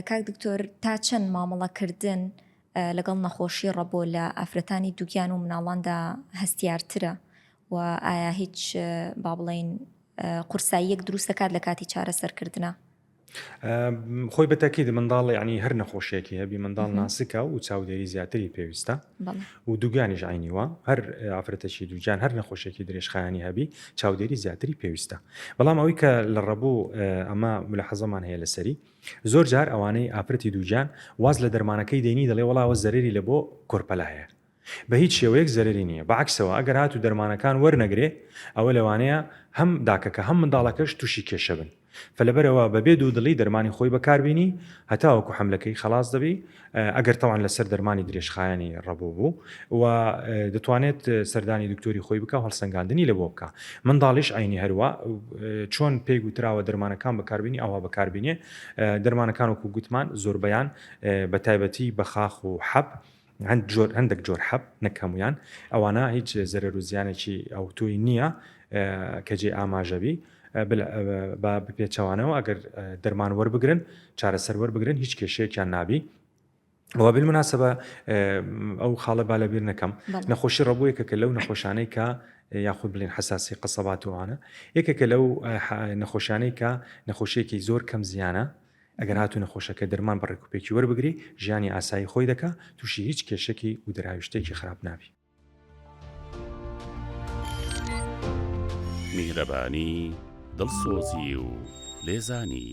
کاک دکتۆر تا چەند مامەڵە کردن لەگەڵ نەخۆشی ڕەبۆ لە ئافرەتانی دووگیان و مناڵاندا هەستیارترە و ئایا هیچ با بڵین قورساییەک دروست دەکات لە کاتی چارەسەرکردە؟ خۆی بەتەکیید منداڵ ینی هەر نەخۆشیێکی هەبی منداڵ ناسکە و چاودێری زیاتری پێویستە و دوگیانیش عەینی وا هەر ئافرەتەکی دوگیان هەر نەخۆشیەکی درێژخایەنی هەبی چاودێری زیاتری پێویستە بەڵام ئەوەی کە لە ڕەبوو ئەمە ملەحەزەمان هەیە لەسەری زۆر جار ئەوانەی ئافرەتی دوگیان واز لە دەرمانەکەی دێنی دەڵێ وەڵاوە زەرری لە بۆ کۆرپەلە هەیە بە هیچ شێوەیەک زەرری نییە بەعکسەوە ئەگەر هات و دەرمانەکان وەرنەگرێ ئەوە لەوانەیە هەم داکەکە هەم منداڵەکەش تووشی کێشە بن. فە لەبەرئەوە بەبێ دوودڵی دەرمانی خۆی بەکاربینی هەتاوەکو حەملەکەی خەڵاس دەبی ئەگەر تەوان لەسەر دەرمانی درێژخایەنی ڕەبۆ بوو و دەتوانێت سەردانی دکتۆری خۆی بکە هەڵسەنگاندنی لەبۆ بکە منداڵیش عینی هەروە چۆن پێی گوتراوە دەرمانەکان بەکاربینی ئەوها بەکاربینێ دەرمانەکان وەکو گوتمان زۆربەیان بە تایبەتی بەخاخ و حەب هەند جۆر هەندێک جۆر حەب نەک هەمویان ئەوانە هیچ زەرەر و زیانێکی ئەوتوی نییە کە جێ ئاماژەبی با بپێچەوانەوە ئەگەر دەرمان وەربگرن چارەسەر وەربگرن هیچ کێشەیەکیان نابی ئەوە بل مناسبە ئەو خاڵە با لەبیر نەکەم نەخۆشی ڕەبوویەکە کە لەو نەخۆشانەی کە یاخود بلین حساسی قسەباتوانە یەکێکە لەو نەخۆشانەی کە نەخۆشیێکی زۆر کەم زیانە ئەگەر هاتوو نەخۆشەکە دەرمان بە ڕێکوپێکی وەربگری ژیانی ئاسایی خۆی دەکا تووشی هیچ کێشەکی و دەراویشتێکی خراپ نابی. میهرەبانی، دڵسۆزی و لێزانی.